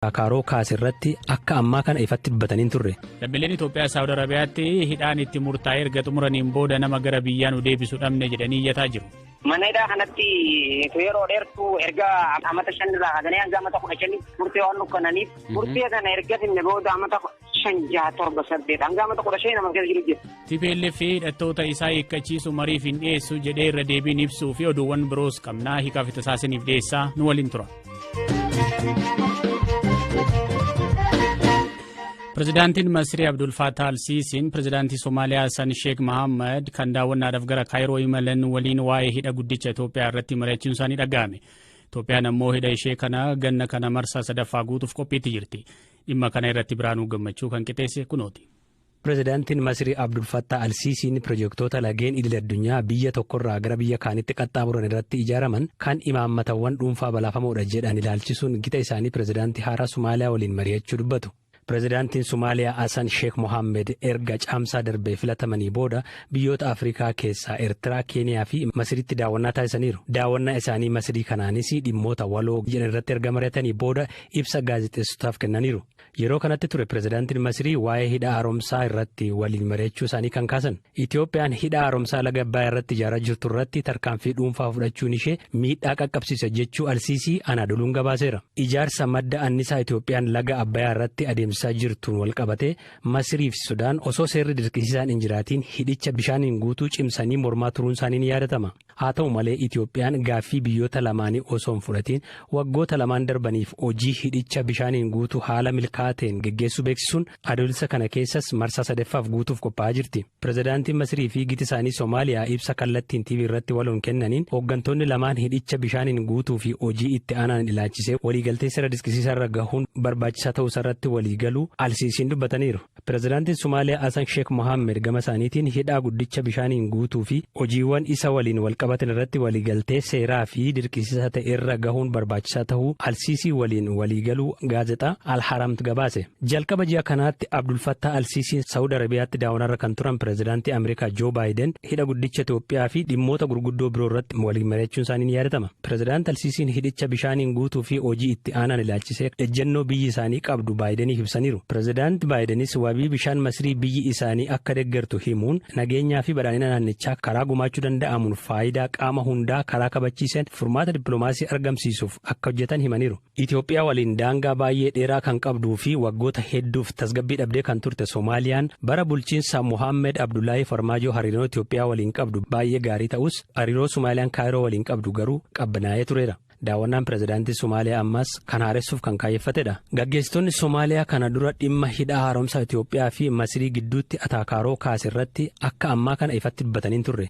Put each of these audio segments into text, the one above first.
Kaaroo kaase irratti akka ammaa kana ifatti dubbatanii hin turre. Lammiileen Itoophiyaa Saawud Arabiyaatti hidhaan itti murtaa'e erga xumuraniin booda nama gara biyyaa nu deebisu dhabne jedhanii iyyataa jiru. Mana hidhaa kanatti yeroo dheertuu erga amata shan irraa kaasanii hanga amata kudha shanitti murtee waan nukkananiif murtee kana erga finne booda amata shan jaha torba saddeet hanga amata kudha shanii nama keessa jiru jira. TPLF fi hidhattoota isaa hiikkachiisu mariif hin dhiyeessu jedhee irra deebiin ibsuu fi oduuwwan biroos qabnaa hiikaa fi tasaasiniif dhiyeessaa nu waliin tura. Pirezidaantiin Masrii Abdul Fattah Al-Siisiin pirezidaantii Somaaliyaa Hassan Sheek Mahammad kan daawwannaadhaaf gara Kaayiroo imalan waliin waa'ee hidha guddicha Itoophiyaa irratti mari'achuun isaanii dhaga'ame. Itoophiyaan ammoo hidha ishee kana ganna kana marsaa sadaffaa guutuuf qophiitti jirti. Dhimma kana irratti Biraanuu Gammachuu kan qixeesse kunooti. Pirezidaantiin Masrii Abdul Fattah Al-Siisiin pirojektoota lageen idil addunyaa biyya tokkorraa gara biyya kaanitti qaxxaamuran irratti ijaaraman kan imaammatawwan dhuunfaa balaafamoodha jedhan ilaalchisuun gita isaanii pirezidaantii haaraa Somaaliyaa waliin mari'achuu dubbatu. Pirezidaantiin Somaaliyaa Hasan Sheek Mohaammed erga Caamsaa darbe filatamanii booda biyyoota Afrikaa keessaa Ertiraa, Keeniyaa fi Masriitti daawwannaa taasisaniiru. Daawwannaa isaanii Masrii kanaanis dhimmoota waloo jedhan irratti erga mari'atanii booda ibsa gaazexeessotaaf kennaniiru. Yeroo kanatti ture pirezidaantiin Masirii waa'ee hidha haaromsaa irratti waliin mari'achuu isaanii kan kaasan. Itiyoophiyaan hidha haaromsaa laga Abbayaa irratti ijaaraa jirtu irratti tarkaanfii dhuunfaa fudhachuun ishee miidhaa qaqqabsiisa jechuu Alsiisii Anaadoluun gabaaseera. Ijaarsa madda annisaa Itiyoophiyaan laga Abbayaa irratti adeemsisaa jirtuun walqabatee Masirii fi Sudaan osoo seerri dirqisiisaan hin jiraatiin hidhicha bishaaniin guutuu cimsanii mormaa turuun isaanii ni yaadatama. Haa ta'u malee Itoophiyaan gaaffii biyyoota lamaanii osoo hin fudhatiin waggoota lamaan darbaniif hojii hidhicha bishaaniin guutuu haala milkaa'aa ta'een geggeessuu beeksisuun Adoolessa kana keessas marsaa sadeffaaf guutuuf qophaa'aa jirti. Pirezidaantiin Masirii fi giti isaanii Somaaliyaa ibsa kallattiin TV irratti waloon kennaniin hooggantoonni lamaan hidhicha bishaaniin guutuu fi hojii itti aanaan ilaachisee waliigaltee seera disqisiisaarra gahuun barbaachisaa ta'uusaarratti waliigaluu Al-Siisiin dubbataniiru. Pirezidaantiin Somaaliyaa Hasan Sheek Mohaamed gama isaaniitiin hidhaa guddicha bishaaniin guutuu fi hojiiwwan isa waliin walqabatan irratti waliigaltee seeraa fi dirqisiisaa ta'e irra gahuun barbaachisaa tahuu Al-Siisii waliin waliigaluu gaazexaa Al-Haramt gabaase. Jalqaba ji'a kanaatti Abdul Fattah Al-Siisiin Sa'ud Arabiyaatti daawanaarra kan turan Pirezidaantii Ameerikaa Joo Baayiden hidha guddicha Itoophiyaa fi dhimmoota gurguddoo biroo irratti waliin mari'achuun isaanii ni yaadatama. Pirezidaant Al-Siisiin hidhicha bishaaniin guutuu fi hojii itti aanaan ilaalchisee ejjennoo biyyi isaanii qabdu Baayideniif ibsaniiru. Pirezidaant Baayidenis wabii bishaan Masirii biyyi isaanii akka deggertu himuun, nageenyaa fi badhaadhina naannichaa karaa gumaachuu danda'amuun faayidaa qaama hundaa karaa kabachiiseen furmaata dippiloomaasii argamsiisuuf akka hojjetan himaniiru. Itoophiyaa waliin daangaa baay'ee dheeraa kan qabduu fi waggoota hedduuf tasgabbii dhabdee kan turte Somaaliyaan bara bulchiinsa Mohaammed Abdullaahii Farmaajoo hariiroo Itoophiyaa waliin qabdu baay'ee gaarii ta'us hariiroo Somaaliyaan Kaayiroo waliin qabdu garuu qabbanaa'ee tureera. Daawwannaan pirezidaantii Somaaliyaa ammaas kan haaressuuf kan kaayyeffatedha. Gaggeessitoonni Somaaliyaa kana dura dhimma hidhaa haaromsaa Itoophiyaa fi Masirii gidduutti ataakaaroo kaase irratti akka ammaa kana ifatti dubbatanii hin turre.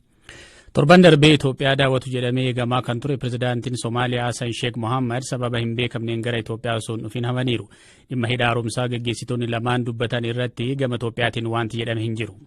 Torban darbee Itoophiyaa daawwatu jedhamee eegamaa kan ture pirezidaantiin Somaaliyaa Hasan Sheek Mohaammed sababa hin beekamneen gara Itoophiyaa osoo hin dhufin hafaniiru. Dhimma hidha haaromsaa gaggeessitoonni lamaan dubbatan irratti gama Itoophiyaatiin wanti jedhame hin jiru.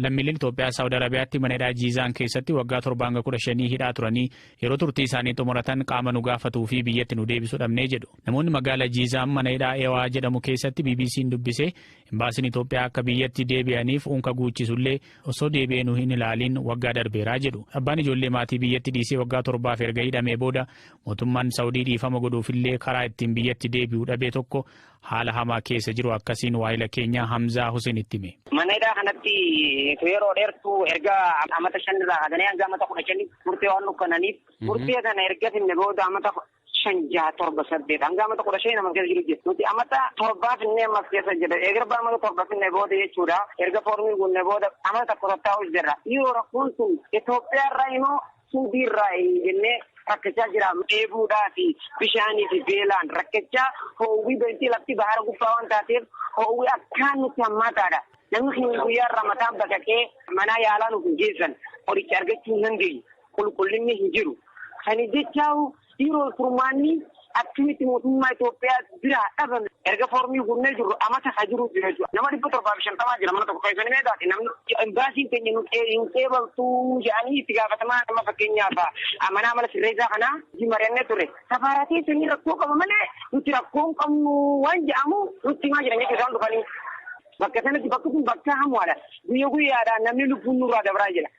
lammiileen Itoophiyaa Saawud Arabiyaatti mana hidhaa Jiizaan keessatti waggaa torba hanga kudha shanii hidhaa turanii yeroo turtii isaanii xumuratan qaama nu gaafatuu fi biyyatti nu deebisu dhabnee jedhu. Namoonni magaala Jiizaam mana hidhaa Ewaa jedhamu keessatti BBC'n dubbise, Imbaasiin Itoophiyaa akka biyyatti deebi'aniif unka guuchisullee osoo deebi'ee nu hin ilaaliin waggaa darbeera jedhu. Abbaan ijoollee maatii biyyatti dhiisee waggaa torbaaf erga hidhamee booda mootummaan Sa'udii dhiifama godhuufillee karaa ittiin biyyatti deebi'u dhabe tokko haala hamaa keessa jiru akkasiin waahila keenya Hamzaa Huseenitti hime. Mana hidhaa kanatti yeroo dheertuu erga amata shanirraa kaasanii hanga amata kudha shanii turtee waan nukkananiif turtee kana erga finne booda amata shan jaha torba saddeet hanga amata kudha shanii nama keessa jiru jira nuti amata torbaa finnee ammas keessa jira eegar baa amata torba finnee booda jechuudha erga foormii guunnee booda amata tokko tattaa'u jirra yoo rakkoon sun Itoophiyaa irraa immoo suudii irraa jennee rakkachaa jira dheebuudhaa fi bishaanii fi beelaan rakkachaa hoowwii beektii lafti bahara gubbaa waan taateef hoowwii akkaan nutti hammaataadha namni keenya guyyaa irraa mataan baqaqee manaa yaalaa nuuf hin geessan qoricha argachuu hin dandeenye. qulqullinni hin jiru. Saniif jecha yeroo furmaanni akkamitti mootummaa Itoophiyaa biraa dhabame erga foormii guunnee jirru amata haa jiru jira jechuudha. Nama dhibba torbaa fi shantamaa jira mana tokko keessanii meeqaati namni imbaasiin keenya nu hin qeebaltu jedhanii itti gaafatamaa nama fakkeenyaaf mana amala sirreessaa kana hojii mari'annee ture. Safaaraa keessanii rakkoo qaba malee nuti rakkoo hin qabnu waan jedhamu nutti himaa jiran jechuudha isaan dhufanii. Bakka sanatti bakki kun bakka hamuudha. Guyya guyyaadhaan namni lubbuun nurraa dabraa jira.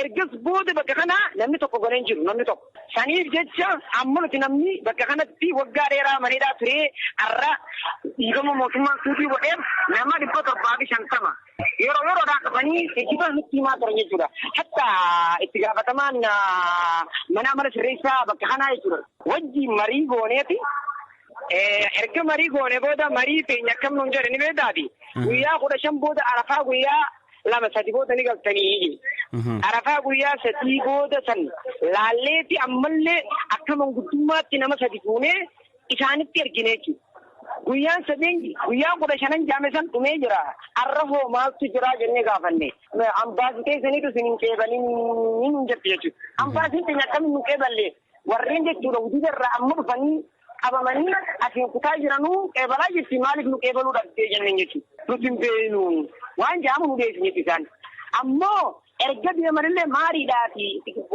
Ergas booda bakka kana namni tokko gale hin jiru, namni tokko. Saniif jecha amma nuti namni bakka kanatti waggaa dheeraa mana hidhaa turee har'a dhiifama mootummaan suutii godheef nama 750 yeroo yeroodhaan dhufanii jijjiirraa nutti himaa turan jechuudha. Hatta itti gaafatamaan manaa mana sirreessaa bakka kanaa jechuudha. Wajjin marii gooneeti erga marii goone booda marii keenya akkam nuun jedhe ni beektaati. Guyyaa kudha shan booda arafaa guyyaa lama sadi booda ni galtanii arafaa guyyaa sadii booda san laalleeti ammallee akka manguddummaatti nama sadi fuunee isaanitti ergine jechuudha. Guyyaan sadeen guyyaa kudha shanan jaame san dhumee jira. Har'a hoo maaltu jira jennee gaafanne. Ambaasii keessaniitu isin hin qeebalin hin jette jechuudha. Ambaasiin keenya akkamiin hin qeeballee? Warreen jechuudha hudida irraa amma dhufanii qabamanii asiin kutaa jiranuu qeebalaa jirti maaliif nu qeebaluu dhabdee jenneen jechuudha. Nuti hin beeknu waan jedhamu nu deebisan jechuudha isaan. Ammoo erga deemanillee maariidhaa fi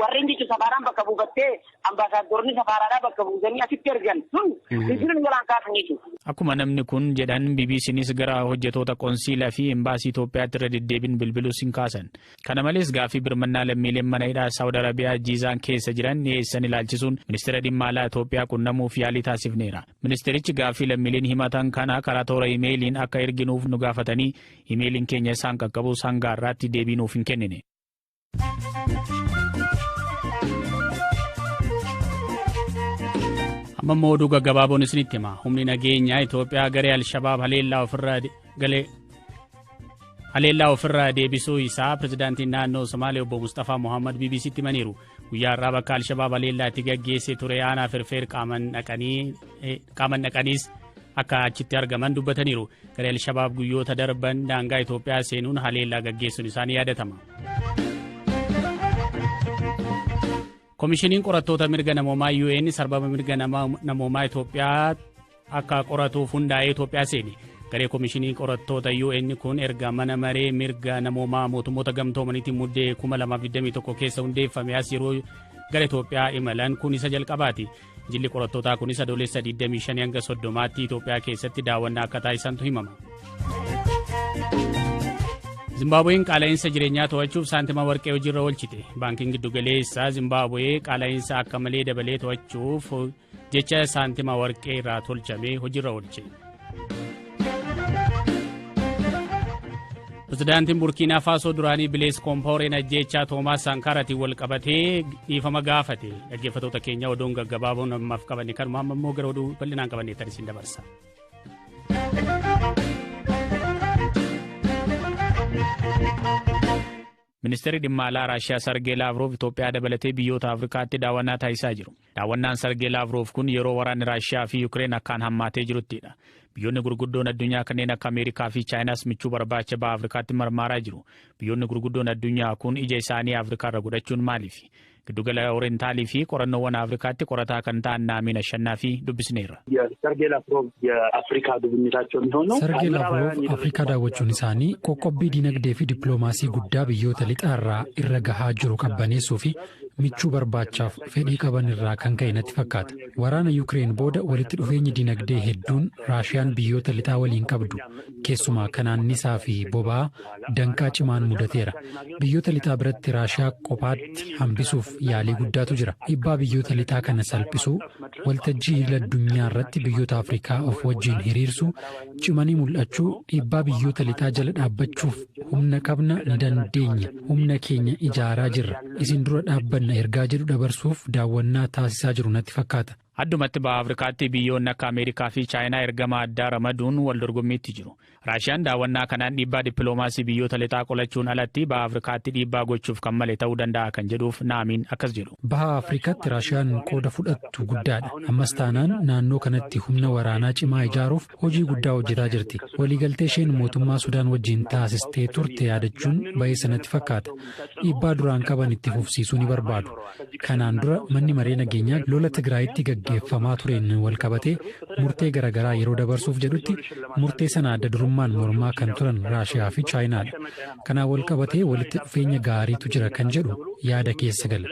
warreen jechuun safaaraan bakka buufattee ambaasaaddoronni safaaraadhaa bakka buusanii asitti ergan sun bilbila nu jalaan kaasan jechuudha. Akkuma namni kun jedhan BBCnis gara hojjetoota qonsiilaa fi embaasii Itoophiyaatti irra deddeebiin bilbilus hin kaasan. Kana malees gaaffii birmannaa lammiileen mana hidhaa Saawud Arabiyaa Jiizaan keessa jiran dhiyeessan ilaalchisuun Ministeera Dhimma Alaa Itoophiyaa qunnamuuf yaalii taasifneera. Ministeerichi gaaffii lammiileen himatan kana karaa toora imeeliin akka erginuuf nu gaafatanii imeeliin keenya isaan qaqqabus hanga har'aatti deebii nuuf hin kennine. Amma immoo oduu gaggabaaboon isinitti hima. Humni nageenyaa Itoophiyaa garee Alshabaab haleellaa ofirraa galee Haleellaa ofirraa deebisuu isaa pirezidaantiin naannoo Somaalee obbo Musxafaa Mohaammed BBC'tti himaniiru. Guyyaa har'aa bakka Alshabaab haleellaa itti gaggeesse ture aanaa firfeer qaaman dhaqaniis akka achitti argaman dubbataniiru. Garee Alshabaab guyyoota darban daangaa Itoophiyaa seenuun haleellaa gaggeessuun isaanii yaadatama. Komishiniin Qorattoota Mirga Namoomaa UN sarbama mirga namoomaa Itoophiyaa akka qoratuuf hundaa'ee Itoophiyaa seene. Garee Komishinii Qorattoota UN kun erga mana maree mirga namoomaa mootummoota gamtoomaniitiin muddee 2021 keessa hundeeffame as yeroo gara Itoophiyaa imalan kun isa jalqabaati. Jilli qorattootaa kunis adoolessa 25 hanga 30tti Itoophiyaa keessatti daawwannaa akka taasisantu himama. Zimbaabuween qaala'insa jireenyaa to'achuuf saantima warqee hojiirra oolchite. Baankiin giddugaleessaa Zimbaabuwee qaala'insa akka malee dabalee to'achuuf jecha saantima warqee irraa tolchame hojiirra oolche. Pirezidaantiin Burkiinaa Faasoo duraanii Bilees Koompaawureen ajjeechaa Toomaas Saankaaraatiin wal qabatee dhiifama gaafate. Dhaggeeffattoota keenya oduun gaggabaaboon ammaaf qabanne kanuma amma immoo gara oduu bal'inaan qabanne tan isin dabarsa. Ministeerri Dhimma Alaa Raashiyaa Sargee Laavroov Itoophiyaa dabalatee biyyoota Afrikaatti daawwannaa taasisaa jiru. Daawwannaan Sargee Laavroov kun yeroo waraanni Raashiyaa fi Yukireen akkaan hammaatee jiruttidha. Biyyoonni gurguddoon addunyaa kanneen akka Ameerikaa fi Chaayinaas michuu barbaacha baha Afrikaatti marmaaraa jiru. Biyyoonni gurguddoon addunyaa kun ija isaanii Afrikaarra godhachuun maaliifi? Giddugala Orientaalii fi Qorannoowwan Afrikaatti qorataa kan ta'an Naamiin Ashannaafii dubbisneerra. Sargee Laavrov Afrikaa gubinyiitaachoo mihoonuu Sargee Laavrov Afrikaa daawwachuun isaanii qoqqobbii diinagdee fi dippiloomaasii guddaa biyyoota lixaa irraa irra gahaa jiru qabbaneessuu fi michuu barbaachaaf fedhii qaban irraa kan ka'e natti fakkaata. Waraana Yukireen booda walitti dhufeenyi diinagdee hedduun Raashiyaan biyyoota lixaa waliin qabdu keessumaa kan aannisaa fi boba'aa danqaa cimaan mudateera. Biyyoota lixaa biratti Raashiyaa qophaatti hambisuuf yaalii guddaatu jira. Dhiibbaa biyyoota lixaa kana salphisuu, waltajjii idil addunyaa irratti biyyoota Afrikaa of wajjin hiriirsuu, cimanii mul'achuu, dhiibbaa biyyoota lixaa jala dhaabbachuuf humna qabna, ni dandeenya, humna keenya ijaaraa jirra, isin dura dhaabbanna ergaa jedhu dabarsuuf daawwannaa taasisaa jiru natti fakkaata. Addumatti Baha Afrikaatti biyyoonni akka Ameerikaa fi Chaayinaa ergama addaa ramaduun wal dorgommiitti jiru. Raashiyaan daawwannaa kanaan dhiibbaa dippiloomaasii biyyoota lixaa qolachuun alatti Baha Afrikaatti dhiibbaa gochuuf kan male ta'uu danda'a kan jedhuuf Naamiin akkas jedhu. Baha Afrikaatti Raashiyaan qooda fudhattu guddaadha. Ammas taanaan naannoo kanatti humna waraanaa cimaa ijaaruuf hojii guddaa hojjetaa jirti. Waliigaltee isheen mootummaa Sudaan wajjin taasistee turte yaadachuun ba'eessa natti fakkaata. Dhiibbaa duraan qaban itti fufsiisuu ni barbaadu. Kanaan dura Manni Maree Nageenyaa lola Tigraayitti gaggeeffamaa tureen walqabatee murtee garagaraa yeroo dabarsuuf jedhutti murtee sana adda durummaan mormaa kan turan Raashiyaa fi Chaayinaadha. Kanaan walqabatee walitti dhufeenya gaariitu jira kan jedhu yaada keessa gala.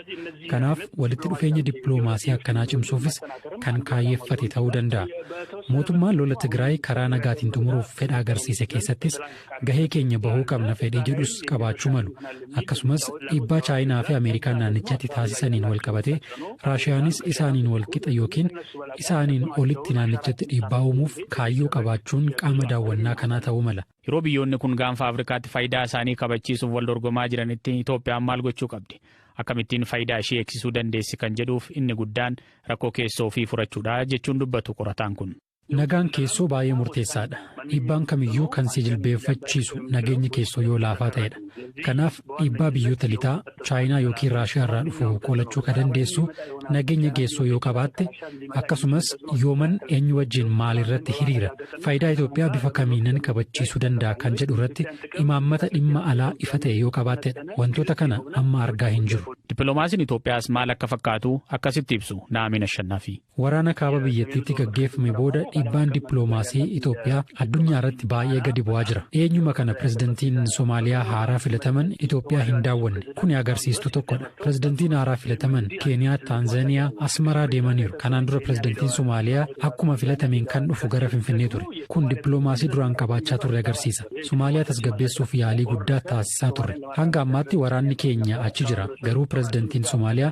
Kanaaf walitti dhufeenya dippiloomaasii akkanaa cimsuufis kan kaayyeffate ta'uu danda'a. Mootummaan lola Tigraay karaa nagaatiin xumuruuf fedha agarsiise keessattis gahee keenya bahuu qabna fedhii jedhus qabaachuu malu. Akkasumas dhiibbaa Chaayinaa fi Ameerikaan naannichatti taasisaniin wal qabatee Raashiyaanis isaaniin wal qixa yookiin isaaniin olitti naannichatti dhiibbaa uumuuf kaayyoo qabaachuun qaama daawwannaa kanaa ta'uu mala. Yeroo biyyoonni kun Gaanfa Afrikaatti fayidaa isaanii kabachiisuuf wal dorgomaa jiranitti Itoophiyaan maal gochuu qabdi? Akkamittiin fayidaa ishii eegsisuu dandeessi kan jedhuuf inni guddaan rakkoo keessoo ofii furachuudha jechuun dubbatu qorataan kun. Nagaan keessoo baay'ee murteessaadha. Dhiibbaan kamiyyuu kan si jilbeeffachiisu nageenyi keessoo yoo laafaa ta'edha. Kanaaf dhiibbaa biyyoota lixaa, Chaayinaa yookiin Raashiyaa irraa dhufu qolachuu ka dandeessu nageenya geessoo yoo qabaatte akkasumas yooman eenyu wajjin maal irratti hiriira faayidaa Itoophiyaa bifa kamiinan kabachiisuu danda'a kan jedhu irratti imaammata dhimma alaa ifa ta'e yoo qabaattedha. Wantoota kana amma argaa hin jiru. Dippiloomaasiin Itoophiyaas maal akka fakkaatu akkasitti ibsu Na'amiin Ashannaafii. Waraana kaaba biyyattiitti gaggeeffame booda dhiibbaan dippiloomaasii Itoophiyaa addunyaarratti baay'ee gadi bu'aa jira. Dhiyeenyuma kana pirezidantiin Somaaliyaa haaraa filataman Itoophiyaa hin daawwanne. Kuni agarsiistuu tokkodha. Pirezidantiin haaraa filataman Keeniyaa, Taanzaaniyaa, Asmaraa deemaniiru. Kanaan dura pirezidantiin Somaaliyaa akkuma filatameen kan dhufu gara Finfinnee ture. Kun dippiloomaasii duraan qabaachaa turre agarsiisa. Somaaliyaa tasgabbeessuuf yaalii guddaa taasisaa turre. Hanga ammaatti waraanni keenya achi jira. Garuu pirezidantiin Somaaliyaa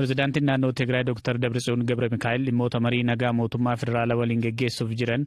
Pirezidaantiin naannoo Tigraay Dr. Dabritsiyoon Gabramikaa'el dhimmoota marii nagaa mootummaa federaalaa waliin geggeessuuf jiran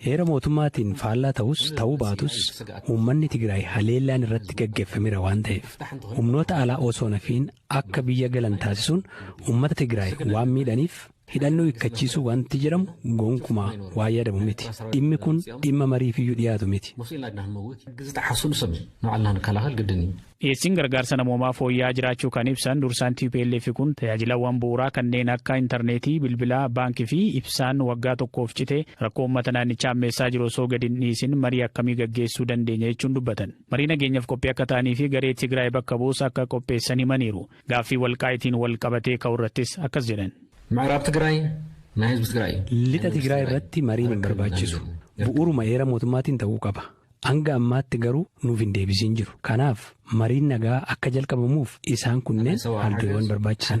Heera mootummaatiin faallaa ta'us ta'uu baatus uummanni Tigraay haleellaan irratti gaggeffamera waan ta'eef humnoota alaa osoo nafiin akka biyya galan taasisuun uummata Tigraay waan miidhaniif hidhannoo hikkachiisuu wanti jedhamu gonkumaa waa yaadamu miti. Dhimmi kun dhimma mariifiyyuu dhiyaatu miti. Musliin laadnaan mawwit gizixaxasuun sami nucallaan kalaahal giddinii. Dhiyeessiin gargaarsa namoomaa fooyya'aa jiraachuu kan ibsan dursaan tplf kun, tajaajilawwan bu'uuraa kanneen akka intarneetii, bilbilaa, baank fi ibsaan waggaa tokkoof cite rakkoo uummata naannichaa hammeessaa jiru osoo gadi hin dhiisin marii akkamii gaggeessuu dandeenya jechuun dubbatan. Marii nageenyaf qophii akka ta'anii fi garee Tigraay bakka bu'us akka qopheessan himaniiru. Gaaffii Walqaayitiin walqabatee ka'u irrattis akkas jedhan. Micraab Tigraay na hizb Tigraay. Lixa Tigraay irratti mariin hin barbaachisu. Bu'uuruma heera mootummaatiin ta'uu qaba. Hanga ammaatti garuu nuuf hin deebisiin jiru. Kanaaf mariin nagaa akka jalqabamuuf isaan kunneen haaldureewwan barbaachisan.